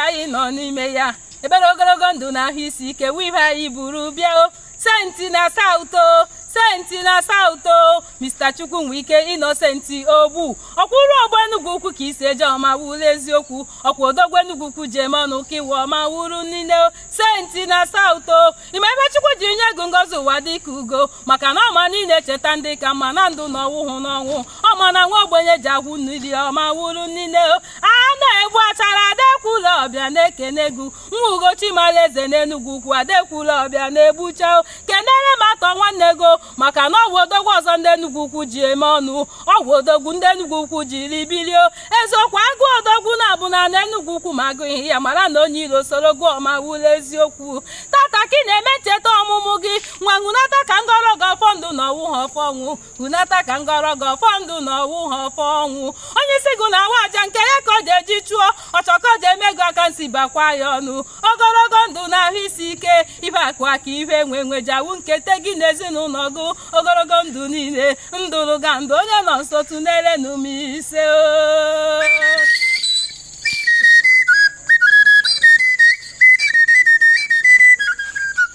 anyị nọ n'ime ya ebere ogologo ndụ na ahụ isi ike wụ ihe anyị buru bịa senti na south o senti na south o mr chukwunweike innocent ogbu ọkwụrụ ọgba enugwu ukwu ka e si eje ụmụawulu eziokwu ọkwa odogwu enugwu ukwu ji eme ọnụ ka iwe ụmụawulu niile senti na south o ime ebe chukwu ji nye ego ngozi ụwa dị ka ugo maka na ọma niile cheta ndị ka mma na ndụ na ọ wụhụ n'ọnwụ ọma na nwa ogbenye ji agwụ nri ụmụawulu niile a na-egbu achara adekwula ọbịa na-ekene egwu Ugochima Alaeze n'Enugwu Ukwu Adekwula Ọbịa na-egbucha kenere m atọ nwanne ego maka na ọ wụ odogwu ọzọ ndị Enugwu Ukwu ji eme ọnụ ọ wụ odogwu ndị Enugwu Ukwu jiri biri o eziokwu a gụọ odogwu naabọ n'ana Enugwu Ukwu ma a gụghị ya mara na onye iro soro gụọ Ụmụawulu eziokwu tata ka ị na-eme ncheta ọmụmụ gị nwanwunata ka m gọọrọ gị ọfọ ndụ na ọ wụha ọfọ ọnwụ hunata ka m gọọrọ gị ọfọ ndụ na ọ wụha ọfọ ọnwụ onye isi gụ na-awa aja nke ya ka ọ ja-eji chụọ ọchọkọ dị emego aka nsi bakwa ya ọnụ ogologo ndụ na ahụ isi ike ihe akụ akụ ihe enwe enwe ja-awụ nkete gị na ezinụlọ gụ ogologo ndụ niile ndụ unu ga-adị onye nọ nso tụnyere ọnụ mee ise oo.